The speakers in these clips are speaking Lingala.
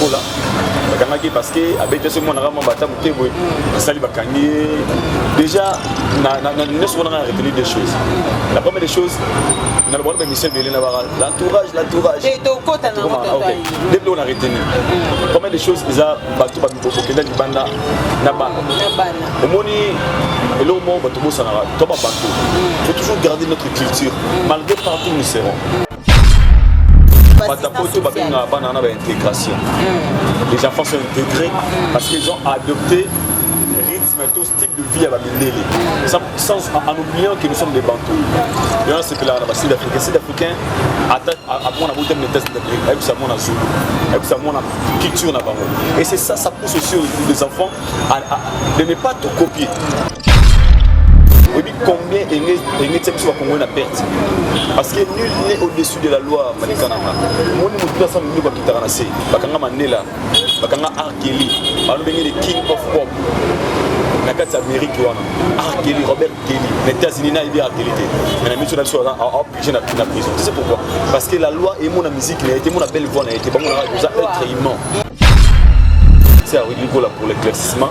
ebola bakangaki ye parce que abeti soki mwana kama bata moke boye asali bakangi ye déjà nyonso wana ngai retenu des choses la première des choses na lobana bamission ebele na baka l'entourage l'entourage nde biloko na retenu première des choses eza bato bakenda libanda na bana omoni eloko moko bato bosanaka to babato faut toujours garder notre culture malgré partout nous serons batapoto babengaka bana wana baintégration hmm. les enfants sont intégrés hmm. parce qu'ils ont adopté rythme to style de vie ya bamindele en oubliant que nous sommes des bantou yango asepelaka na basud africain sud africain amona botami na etats unis ayebisa mona zulu ayebisa mona culture na bango et c'est ça ça pousse aussi les enfants à, à, de ne pas tout copier combien enge enge tia biso bakongoli na perte parce que nul n'est au-dessus de la loi malika nanga omoni motu mpe asala loboko akitaka na se bakanga mandela bakanga arkeli balobenge le king of pop na kati ya amerike wana arkeli robert kelly na états-unis nayebi arkeli te mais na miso na biso aoblige na prison tu sais pourquoi parce que la loi emona musique na ye te emona belle voix na ye te bango na oza être humain c'est à redigola pour l'éclaircissement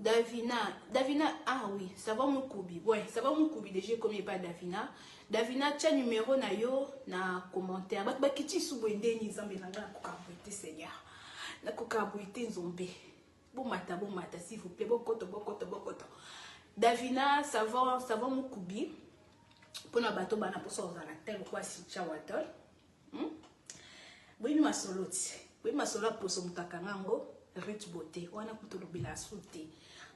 Davina, Davina, ah oui, ça va mon koubi. Ouais, ça va mon koubi déjà comme pas Davina. Davina, tu as numéro na yo na commentaire. Bak bakiti sou bende ni zambe na nga ko kabuite Seigneur. Na ko kabuite nzombe. Bomata bomata s'il vous plaît bokoto bokoto bokoto. Davina savon savon mukubi pona bato bana posa ozala tel kwa si chawatol. Hmm? Boyebi masolo ti. Boyebi masolo ya poso moto akanga yango Ruth Beauté wana kutu lobela asu te.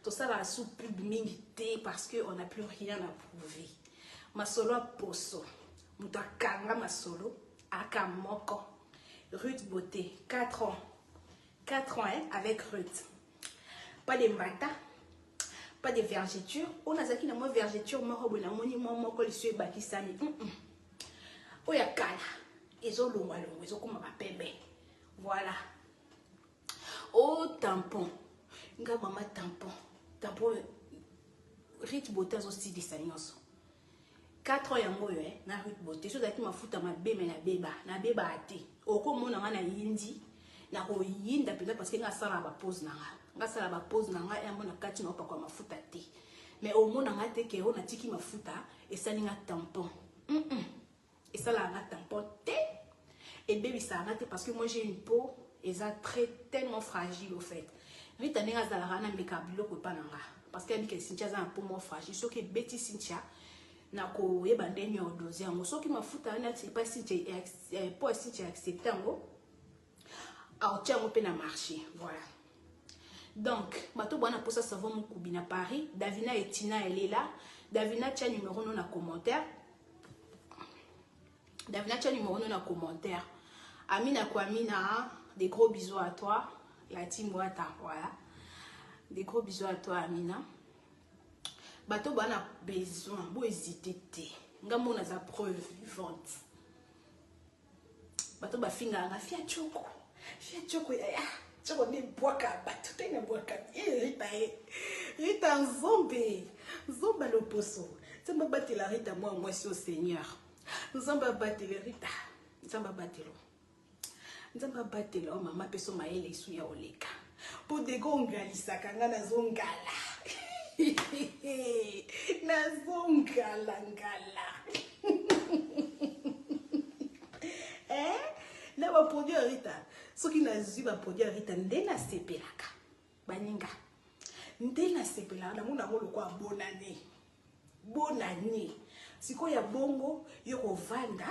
Tosala asu pub mingi te parce que on n'a plus rien à prouver. Masolo ya poso moto akanga masolo aka moko Ruth Beauté 4 ans 4 ans hein, avec Ruth. Pas de mbata, pas de vergeture. On a zaki na moi vergeture moko boye na moni mwa moko lisu ebakisami. Mm -mm. Oyo ya kala ezolongwa longwa ezokoma bapembe. Voilà. Oh tampon. Nga mama tampon. Tampon Ruth Bota azosilisa nyonso. 4 ans yango oyo eh, na Ruth Bote so ezalaki mafuta mabe me nabeba nabebaa te okomona nga na yindi nakoyinda mpenza parceke nga asala bapose na nga nga asala bapose na nga yango na kati na opakwa mafuta te me omona nga te ke oyo natiki mafuta esali nga tampon mm -mm. Esalaka nga tampon te. Ebebisaka nga te parce que moi j'ai une peau eza très tellement fragile au fait. Rita ndenge azalaka na meka biloko epa na nga parce que abika Cynthia aza na peau moko fragile soki ebeti Cynthia nakoyeba ndenge ya odose yango soki mafuta wana epa Cynthia eh, peau ya Cynthia accepte yango aotia yango mpe na marché voilà donc bato bwana mposa savon mokubi na paris davina etina elela davina tia numero no na commentaire davina tia numero no na commentaire amina kuamina des gros bisous à toi la team wata voilà des gros bisous à toi amina bato bwana besoin bohésite te ngai mona za preuve vivante bato bafingaka nga fia choko fia choko yaya choko nde bwaka bato te na bwaka ye rita ye rita nzombe nzomba loposo nzambe abatela rita mwa mwasi o seigneur nzambe abatele rita nzambe abatelo nzambe abatela o mama peso mayele esu ya oleka Po dego ongalisaka nga nazo ngala. nazo ngala ngala. eh? Na ba produit ya Rita. Soki nazwi ba produit ya Rita nde nasepelaka. Baninga. Nde nasepelaka namona yango lokola bonane. Bonane. Sikoyo ya bongo yo kovanda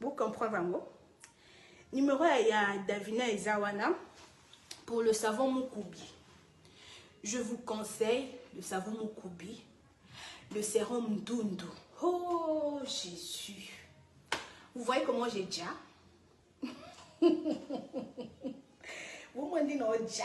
Bo comprendre yango. Numero ya, ya Davina eza wana pour le savon Mukubi. Je vous conseille le savon Mukubi, le sérum Ndundu. Oh Jésus. Vous voyez comment j'ai déjà Vous m'en dites non déjà.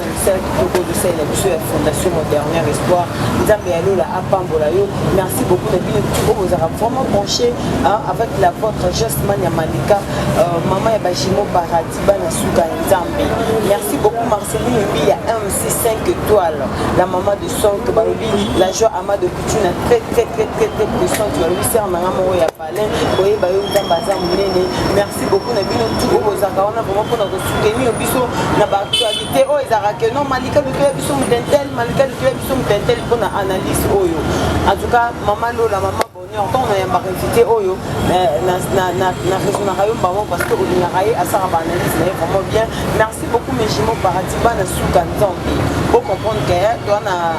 mosala kitoko ozosalela biso ya fondation moderner espoir nzambe ya lola apambola yo merci beaucoup na bino oyo bozalaka vraiment branché avec la vôtre justman ya malika euh, mama ya bajimo paradis bana suka ya nzambe merci beaucoup marcelin ebi ya mc 5 étoile la mama de sonk balobi la joie ama de couture na très très très très très puissante balobi ser nanga moko ya Alain koyeba yo nzambe aza monene merci beaucoup na bino tu oyo bozalaka wana vraimen mpona kosoutenir biso na baactualité oyo ezalaka ke non malika lutoya biso mutentel malika lutoya biso mutentel mpona analyse oyo en tout cas mama lola mama bonheur ntango nayambaka invité oyo na raisonnaka yo mbango parce que olingaka ye asala baanalyse na ye vraiment bien merci beaucoup mes jimo paradis bana suka nzambe bocomprendre ke toana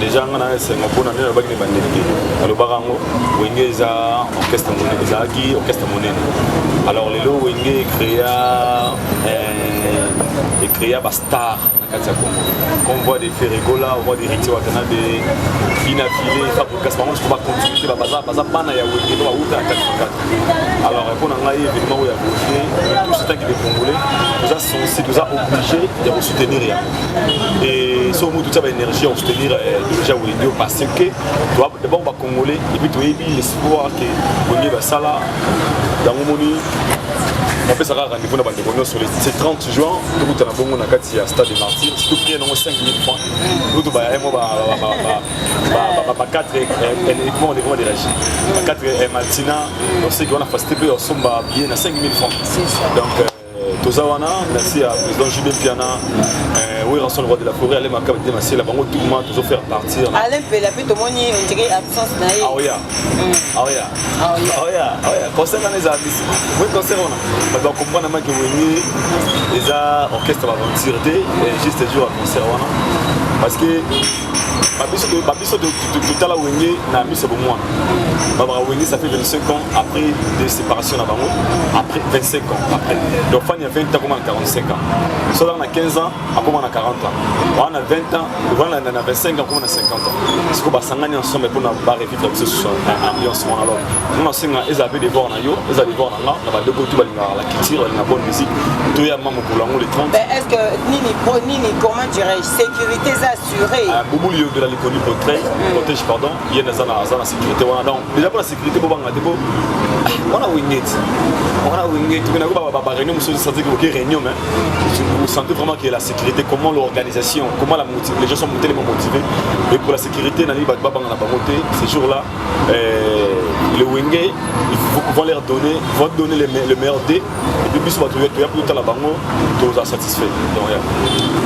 deja nga na esengo mpo na nde nalobaki na ebandeli te nalobaka yango wenge eza orchestre monene ezalaki orchestre monene alors lelo wenge ecrea euh, ecrea bastar na kati ya congo comme voix de ferregola voix de riti watanabe bina file fabricas bango siko bacontinue te baza bana ya wenge to bawuta na kati na kati alors mpo na ngai événement oyo ya boye touche tanki de congolais toza sensible toza obligé ya kosoutenir yango et so mutu tya baénergie ya kosoutenir deja wedio parce que d'abord bacongolais epuis toyebi l'espoir ke bolingi basala yango moni napesaka rendez-vous na bandeko nyonso le 30 juin tokuta na bongo na kati ya stade de martyr surtout prix yango 5000 francs kutu bayango ba 4 uniquement au niveau de régie ba 4 matina oseki wana facilité mpe osomba billet na 5000 francs donc euh, toza wana merci ya président jube mpiana euh, werrason roi de la forêt ale makaba te masela bango tukuma tozo faire partir ale mpela mpe tomoni ondire absence na ye aoya aoya aoya aoya concert wana eza abisi oui concert wana bato bakomprendre maki wenge eza orchestre baventure te juste jour ya concert wana parce que babiso babiso totala wenge na miso bomwana babaka wenge ça fait 25 ans après de séparation na bango après 25 ans après donc fani ya 20 ans akoma na 45 ans so azaka na 15 ans akoma na 40 ans wana na 20 ans wana na 25 ans akoma na 50 ans siko basangani ensemble mpona barevivre biso sur ambiance wana alors nga nasenga ezala mpe devoir na yo ezala devoir na nga na bandeko tu balingaka la culture balinga bonne musique toya ma mokolo yango le 30 est ce que nini nini comment dirais sécurité eza assuré ah, bubuli yongela likoni protège hmm. protège pardon ye naza na aza na sécurité wana donc déjà mpo na sécurité bobanga te mpo wana wingeti wana wingeti pena ko ba réunion mosusu senti koke réunion mais vous sentez vraiment que la sécurité comment l'organisation comment la motive les gens sont tellement motivés et pour la sécurité nalingi bato babanga na bango te ces jours là euh, le wenge ils vont leur donner vont donner le meilleur dé epuis biso bato toya mpe totala bango toza satisfait donc ya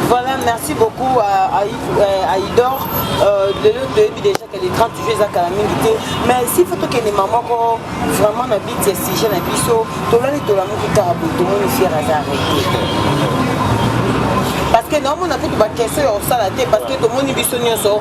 voilà merci beaucoup à, à, euh, à idor euh, lelo toyebi déjà que le 30 juillet eza kala mingi te mais si fo tokende ma moko vraiment na biti ya sujet na biso tolali tolamuki kaka boye tomoni fiere aza arrete parce que naomona kutu bakese ya kosala te parce que tomoni biso nyonso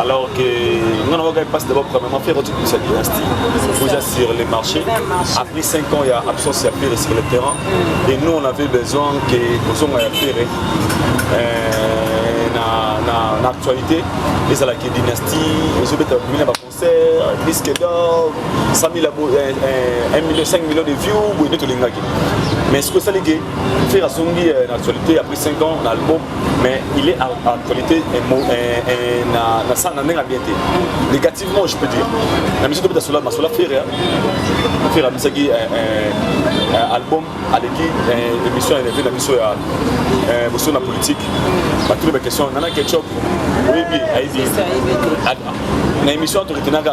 alors que nga na wakaki mpasi d'abord premièrement ferre oti kobisa dynastie oza sur le marché après 5 ans ya absence ya ferre sur le terrain mm. et nous on avait besoin que kozonga ya ferre euh, na actualité ezalaki dynastie ezobeta bimi na baconcert disque d'or 100 000 5 millions de vues boye nde tolingaki mais soki osali ke Ferre asongi euh, na actualité après 5 ans na album mais il est à actualité na ça na ndenge bien te négativement je peux dire na miso tobeta sola masola Ferre hein. Ferre amisaki album aleki émission énervé na biso ya boso na politique bato na baquestion nana ketchup oyebi ayebi na émission toretenaka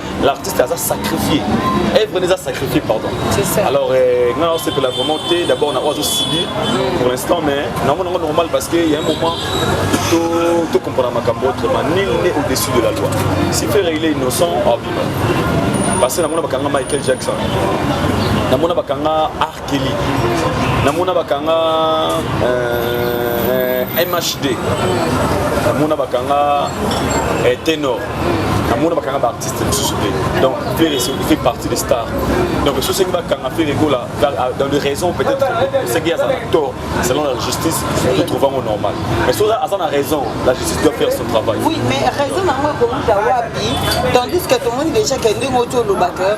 l'artiste aza sacrifié œuvre nde eza sacrifié pardon alors euh, nga osepela vraiment te d'abord na oyo azosubir pour l'instant mais nango nango normal parce que ya un moment to comprendre makambo autrement nil n'est au-dessus de la loi si ferre il est innocent aviva parce que namona bakanga michael jackson namona bakanga Kelly. Namona bakanga euh, MHD. Namona bakanga euh, Tenor. namona bakanga baartiste mosusu te donc fere fait partie des stars donc soki osengi bakanga fere gola dans les raisons peut-être osengi aza na tort selon la justice to trouve yango normal mais soki aza na raison la justice doit faire son travail oui mais raison na yango ekouta wapi tandis que tomoni déjà ke ndenge oti olobaka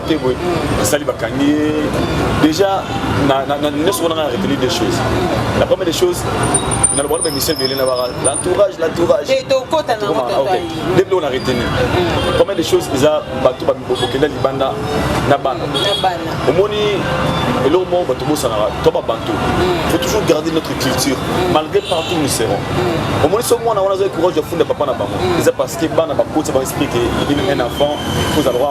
te boye asali bakangi ye déjà nyonso wana ngai retenir des choses la première des choses naloba na bamission ebele na baka l'entourage l'entourage nde biloko na retenir mm. première des choses eza bato bokenda libanda na bana omoni eloko moko bato bosanaka to babantu mm. faut toujours garder notre culture mm. malgré partout nous serons omoni so mwana wana azali courage ya funda papa na bango eza parce que bana bakotisa ba esprit ke un enfant kozala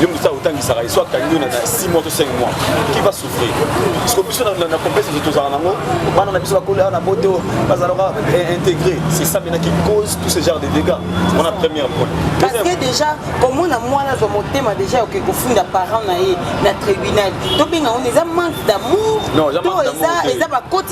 yo moto sala otangisaka ye so akangi yo na 6 mois to 5 mois qui va souffrir parce que biso na complexe ezo tozala nango bana na biso bakoli awa na poto bazalaka eh, intégré c'est ça maintenant qui cause tout ce genre de dégâts wana première point parce que déjà komona mwana azwa motema déjà oke kofunda parent na ye na tribunal tobenga ngo eza manque d'amour to eza bakoti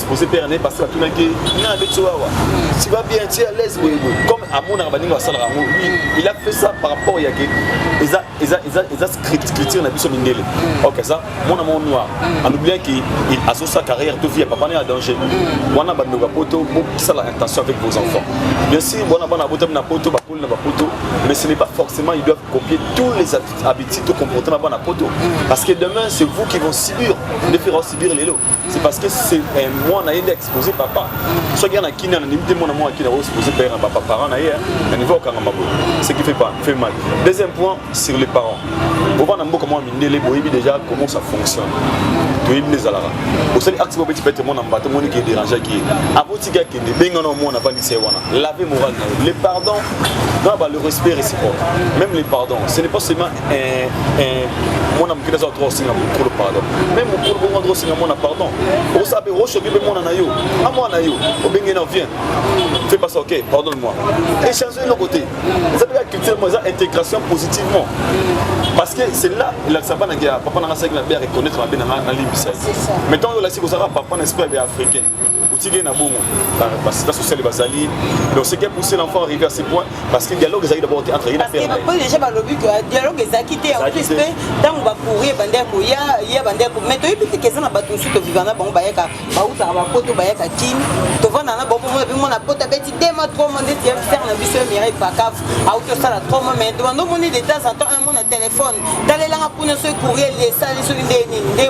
pose père ne parce que atunaki na abeti wawa tu vas bien tu es à l'aise boye boye comme amonaka baninga basalaka yango lui il a fait ça par rapport ya ke eza eza eza eza script culture na biso mindele ok ça mon amour noir en oubliant que il a sa carrière tout vie papa na danger wana ba ndoka poto pour ça la intention avec vos enfants bien sûr bona bana bota na poto ba kola ba poto mais ce n'est pas forcément ils doivent copier tous les habitudes tout comportement bana poto parce que demain c'est vous qui vont subir les faire subir les lots c'est parce que c'est eh, moi na yende exposé papa soki ana kini ana limite mwana mwa kina ko exposé père na papa parent na ye na niveau okanga mabo ce qui fait pas fait mal deuxième point sur les parents oba na mboka mwa mindele boyebi déjà comment ça fonctionne toyebi nde ezalaka osali acte moko beti pete mwana mbata omoni ke dérangeaki ye abotika akende benga na omwana avandisi ye wana lave moral na yo le pardon na ba le respect réciproque même les pardons ce n'est pas seulement eh, eh, mwana mokili aza droit osenga mokolo pardon me mokolo bongo droit osenga mwana pardon osabe oshoki mpe mwana na yo a mwana yo obenge na vien fait pas ok pardon moi échange eloko te eza mpe ka culture mo eza intégration positivement parce que c'est là elakisa bana ke papa nanga asaki mabe ya reconnaître mabe nanga nalimbisa ye mais ntango yo olakisi kozalaka papa na esprit ya africain otiki na bongo basita sociale bazali donc ce qui a poussé l'enfant arrivé à ce point parce que dialogue ezalaki d'abord entre ye na père na ye déjà balobi que euh, dialogue ezalaki te en plus mpe ntango bacourrier bandaki koya ya bandaki mais toyebi te keza na bato mosusu toviva na bango bayaka bautaka bapoto bayaka kin tovanda na bango mona mpe mona poto abeti dema trois mois ndeti ya père na biso ya mirai pakaf auti osala trois mois mais bando omoni de temps en temps un mois na téléphone talelanga kuna soki courrier esali soki nde nini nde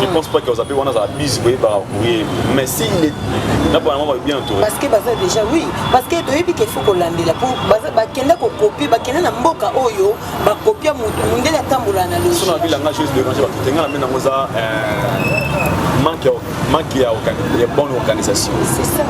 Je hmm. pense pas que Ozabe wana azala busy koyeba courrier mais si il est na bana mama bien entouré. Parce que baza déjà oui parce que toyebi qu'il faut kolandela po baza bakenda ko copier bakenda na mboka oyo ba copier mutu mundele atambola na logique. Sona bila nga juste de manger ba tenga na mena ngoza euh manque manque ya ya bonne organisation. C'est ça.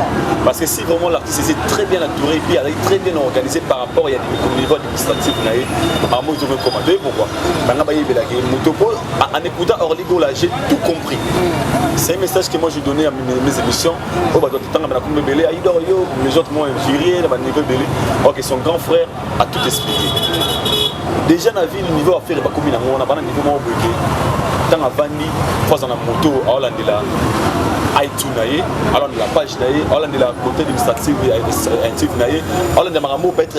Parce que si vraiment l'artiste est très bien entouré puis elle est très bien organisé par rapport à des niveau stative na ye bango ezoki ekoma toye pourkoi banga bayebelaki ye moto po en écoutant orly gola j'ai tout compris mm. c'est un message que moi je donnais à mes émissions oyo bato batotangama na kombo ebele aidor ah, yo les autres m'ont infurié na baniveau ebele ok son grand frère a tout expliqué déjà na ville niveau affaire bakomi nango wana bana niveau moko boyeke ntango avandi fo aza na moto aolandela it na ye aolandela page na ye aolandela côté administrative ya na ye aolandela makambo peut être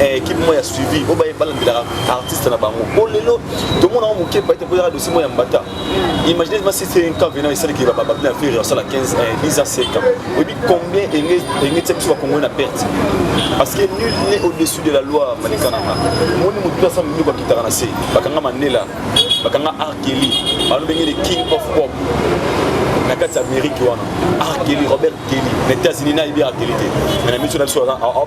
eh, équipe moi ya suivi oyo baye balandelaka artiste na bango o lelo tomonango moke baite mpo ezaka dosie moi ya mbata imaginez ma si c'est un cas venant esalaki bababina ya ferre asala 15 10 ans 5 ans oyebi combien enge tia biso bakongoi na perte parce que nul n'est au-dessus de la loi malikananga omoni motu asa mingi bakitaka na se bakanga mandela bakanga arkeli balobenge le king of pop na kati ya amérike wana arkeli robert kelly na états-unis nayebi arkeli te mais na miso na biso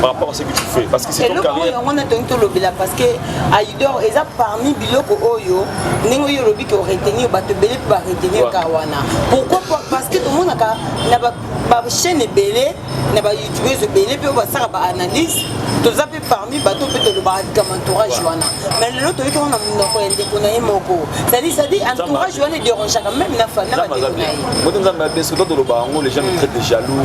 par rapport à ce que tu fais parce que c'est ton carrière yango na tongi tolobela parce que aidor eza parmi biloko oyo ndenge oyo olobi ke oretenir bato ebele mpe baretenir ka wana pourquoi parce que tomonaka na bachaîne ebele na bayoutubeurs ebele mpe oyo basalaka baanalyse toza mpe parmi bato mpe tolobaka likama entourage wana mais lelo toyoki wana monoko ya ndeko na ye moko cetadi cetadi entourage wana ederangeaka meme na bandeko na ye bote nzambe abeso to tolobaka yango les gens me traite de jaloux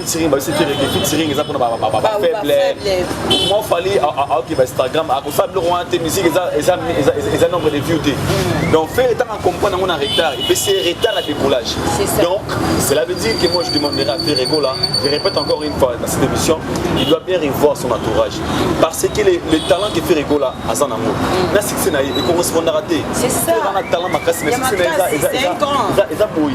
featuring babisi fereke featuring eza mpona bafaible moi fali aoki ba instagram akosala biloko wana te musique eza nombre de view te mm. donc fere ntango acomprendre yango na retard epesi retard ya décollage donc cela veut dire que moi je demanderai à ferre gola je répète encore une fois dans cette émission il doit bien revoir son entourage parce que le, le talent que ferre gola aza na yango mm. na succès na ye ekorespondaka te eza na talent makasi mais succès na ye eza boye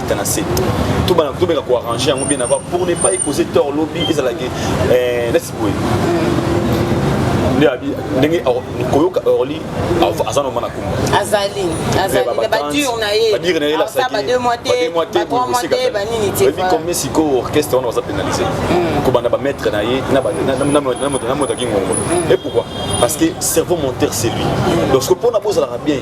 na se to bana to beka ko arranger yango bien avant pour ne pas causer tort lobby ezala ke eh laisse boy nde abi ndenge koyoka orly aza noma na kumba azali azali na badure na ye badure na ye lasaki ba deux mois te ba trois mois te ba nini te ebi combien sikoyo orchestre wana baza pénalisé hmm. kobanda ba maître na ye na ba na moto na moto ki ngongo hmm. et pourquoi parce que cerveau monteur c'est lui hmm. donc ce que pona bozalaka bien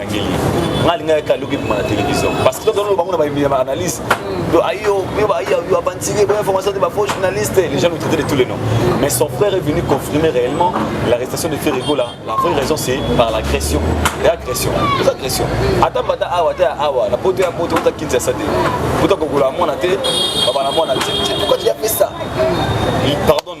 nga alinga yaka aluki bima na télévision parce que tozoloba bango na analyse do ayo yo aventurier bo information de ba faux journaliste les gens nous traitaient de tous les noms mais son frère est venu confirmer réellement l'arrestation de Ferrego là la vraie raison c'est par l'agression et agression les agressions ata bata awa ta awa na poto ya poto ta kinza sa te poto kokola mwana te baba na mwana te pourquoi tu as fait ça il pardonne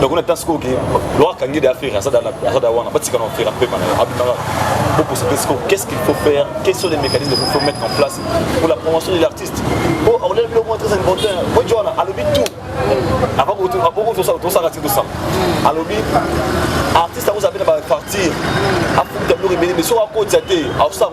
donc on attend sikoyo ke loi kangi de affaire aza da wana batika na affaire apema na yo abimaka bokosa te sikoyo qu'est ce qu'il faut faire quels sont les mécanismes qu'il faut mettre en place pour la promotion de l'artiste po oh, akolela bilo mwa très important po joana alobi tout avant kotosala tosala ti tosala alobi artiste akozala mpe na bapartir afuta biloko ebele mais soki akotisa te akosala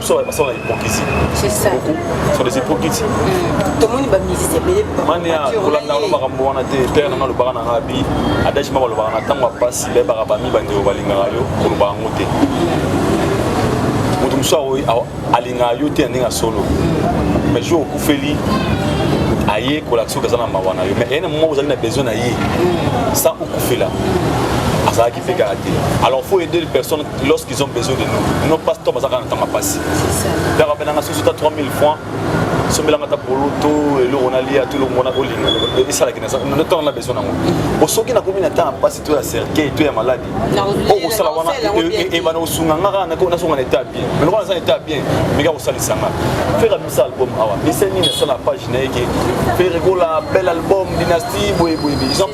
biso baza basala na hypocrisie C'est ça. beaucoup sont des hypocrites tomoni bamizisi ebele mania kolanda yango makambo wana te pere nanga alobaka na ngabi adage moko alobaka na ntango ya mpasi bayebaka bami bandeko balingaka yo koloba yango te moto mosusu aoyi- ao- alingaka yo te na ndenge ya solo mais jour okufeli aye kolakisa oyo aza na mawa na yo mais eye na moko ozali na besoin na ye sans okufela azalaki mpe kaka te alors faut aider les personnes lorsque Ils ont besoin de nous. Nos pasteurs bazaka na tanga pasi. Dara benanga soso ta 3000 francs. sombelanga ata polo to eloko nalia to eloko mona olinga esalaki ntango na besoin nango o soki nakomi na ntango ya mpasi to ya cercueil to ya maladi okosala wana ebana kosunga nga kaka nasonga na etat bien mais lokola naza na etat bien meka kosalisa nga fere abimisa album awa ese nini asala page na ye ke fere kola bel album dynastie boyeboye ils ont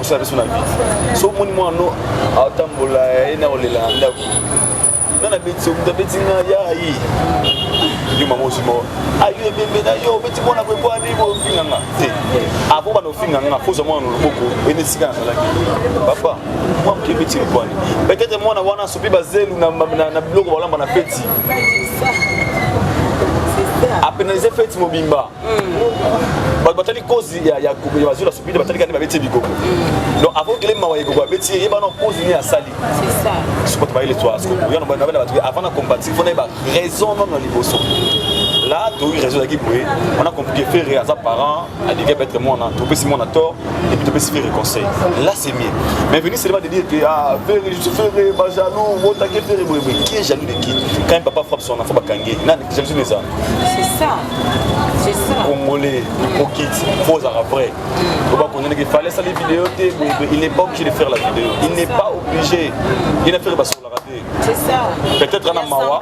osala biso na vie so omoni mwana no atambola ye na kolela na ndako nga nabeti yo moto abeti nga ya ye yo mama osi moko ayo ah, ebembe na yo obeti mwana ko epoa nini ofinga nga te apo bana ofinga nga foza mwana na loboko ene esika nazalaki papa mwa moke ebeti epoani peut-être mwana wana asopi bazelu na biloko balamba na feti apenalize feti mobimba bato batali kozi ya bazwi na sopide batalika nde babeti ye bikoko mm. donc avant okele mawa ekoko abeti ye yebana kozi nini asali sikoto bayele twa sikoto yano bana bana bato avant na combattre il faut nayeba raison nono liboso là toyoki raison ezalaki boye wana compliqué ferre aza parent alingi peut-être mwana topesi mwana tort et puis topesi ferre conseil là c'est mieux mais venir seulement de dire que ah ferre je suis ferre ba jaloux botake ferre boye boye qui est jaloux de qui quand papa frappe son enfant bakangi nani jalousie neza c'est ça congolais hypocrite faut ozala vrai oba kondeneke fallait sali video te il n'est pas obligé de faire la vidéo il n'est pas obligé ye na fere basolaka te peut-être ana mawa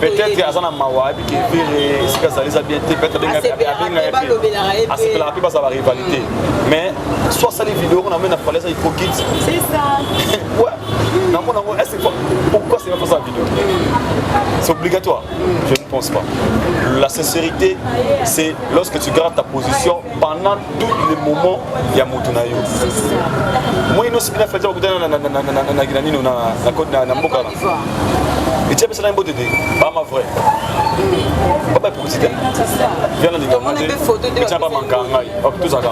peut-être aza na mawa ayebi ke fere esika azali eza bien te peut-être abengayete asepelaka mpe bazala barivalité mais so asali video kuna mena fallait eza hypocrite namona yango pourquoi c'est pas ça vidéo c'est obligatoire Je ne pense pas. La sincérité, c'est lorsque tu gardes ta position pendant tous les moments ya moto na yo. Moi, ino soki nafeti bakutana na nino na mboka na etia pesa na mbote te bama vrai baba ekokisi te viana ndinga etia bamanka ngai tozaka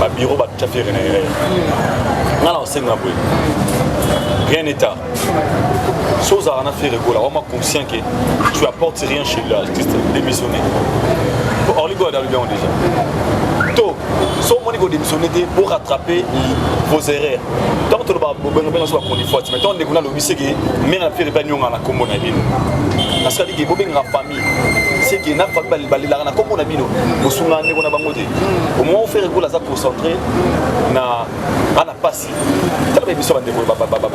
ba bureau ba tya fere na erreur nga na osenga boye rien n'est tard so ozalaka na fere gola wama conscient que tu apportes rien chez l'artiste démissionné orly gola alobi yango déjà to so omoni kodémissionne te po rattraper vos erreurs ntango toloba bobengabenga so bachronifuati mai ntango ndeko nalobi seke mare ya fere mpe anyongana na nkombo na bino nasalaki bobengaka seke na famille balelaka na kombo na bino bosunga ndeko na bango te omoma ofere gola aza concentré na ana pasi tala ba biso bandeko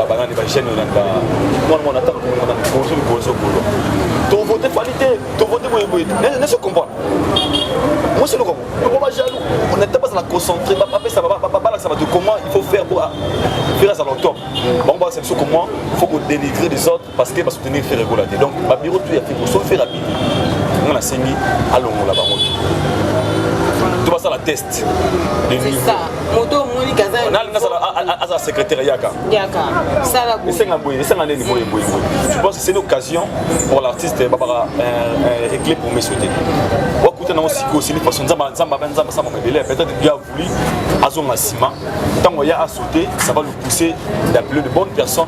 banani bagene olanda mwana mwana ata bozo liboso bolo tovote fali te tovote boyeboye neso comprendre mwasi eloko yango bajaloux nata bazala concentré bapesa babalakisa bato comment il faut faire pour faire azala au top bango balakisa biso comment faut kodenigrer des autres parce que ba soutenir Ferre Gola te donc ba bureau tout ya Ferre sauf Ferre abimi nga nasengi alongola bango to basala test de niveau moto omoni kaza nani nasala azala secrétaire yaka yaka sala boye esenga boye esenga nini boye boye boye je pense que c'est l'occasion pour l'artiste babaka réglé pour me souhaiter wakuta nango sikoyo sili façon nzamba nzamba nzamba samba mabele peut-être Dieu a voulu azonga nsima ntango ya a sauter ça va le pousser d'appeler de bonnes personnes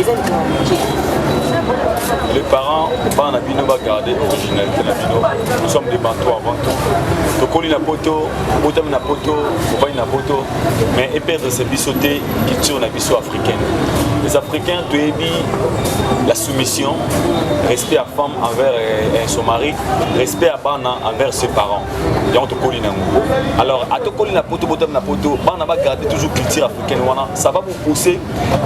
eza likambo ya moke les parents bana na bino bagarde originalité na bino nous sommes des bantou avant tout tokoli na poto obotami na poto obani na poto mais eperdre se biso te culture na biso africaine les africains toyebi la soumission respect ya femme envers eh, son mari respect ya bana envers ses parents yango tokoli nango alors atokoli na poto obotami na poto bana bagarde toujours culture africaine wana sababu pousse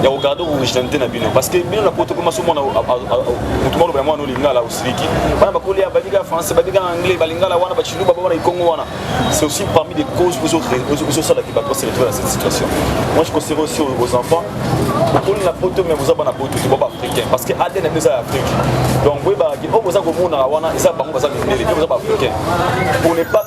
ya kogarde originalité na bino parce que bino na poto mpe maso mwana motu mwa lobela mwana olingala osiliki bana bakoli ya babika français babika anglais balingala wana bachiluba bawana ikongo wana c'est aussi parmi des causes ezosala ke bato basele trouve na cette situation moi je conseille aussi aux enfants bokoli na poto mais boza bana poto te boba africain parce que adn yango eza ya afrique donc boyebaka ke oyo boza komonaka wana eza bango baza mindele mpe boza ba africain pour ne pas